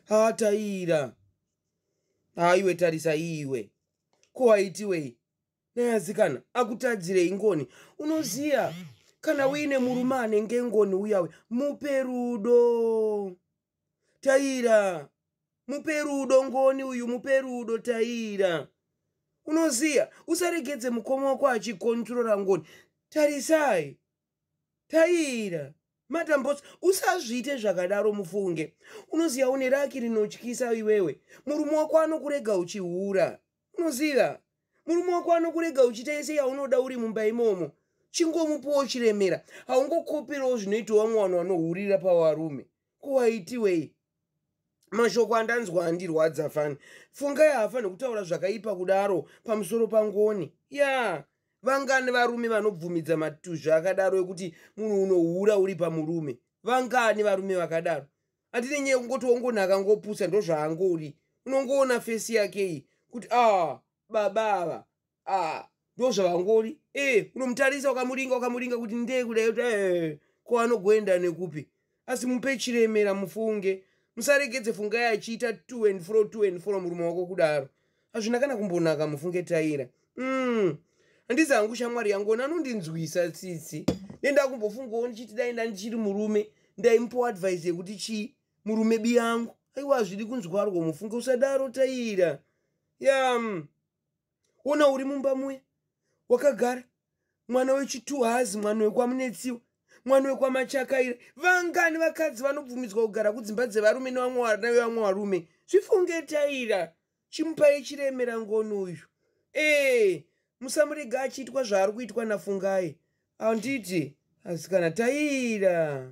hataira haiwe tarisa iwe ko waitiwei neasikana akutadzirei ngoni unoziya kana uine murume anenge ngoni uyawe mupe rudo taira mupe rudo ngoni uyu mupe rudo taira unoziya usaregedze mukoma wako achikontrora ngoni tarisai Taira, Madam Boss, usazviite zvakadaro mufunge. Unoziva une raki rinotyisa iwewe. Murume wako anokurega uchihura. Unoziva? Murume wako anokurega uchiita yese yaunoda uri mumba imomo. Chingomupuwo chiremera. Haungokoperawo zvinoitawo vamwe vanhu vanohurira pavarume. Ko waitiwei? mashoko andanzwa andirwadza fani fungai haafanhi kutaura zvakaipa kudaro pamusoro pangoni ya yeah. vangani varume vanobvumidza matuzvi akadaro ekuti munhu unohura uri pamurume vangani varume vakadaro atine nyaya kungoti wongonaka ngopusa ndozvaangori unongoona fesi yake iyi kuti a ah, baba ava ah ndo zvavangori eh unomutarisa ukamuringa ukamuringa kuti ndee kudai kuti eh ko anogoenda nekupi asi mupe chiremera mufunge musaregedze fungai achiita two and fro two and fro murume wako kudaro hazvina kana kumbonaka mufunge taira mm handizi hangu shamwari yangu ona anondinzwisa tsitsi nendakumbofungawo ndichiti dai ndandichiri murume ndaimupowa advise yekuti chii murume biyangu aiwa hazvidi kunzwarwa mufunge usadaro taira yam yeah. ona uri mumba muya wakagara mwana wechitu haazi mwana wekwamunetsiwa mwana wekwamachakaira vangani vakadzi vanobvumidzwa kugara kudzimba dzevarume nevamwe vana vevamwe varume zvifungetaira chimupai chiremera ngoni uyu ee musamurega achiitwa zvaari kuitwa nafungai handiti asikana taira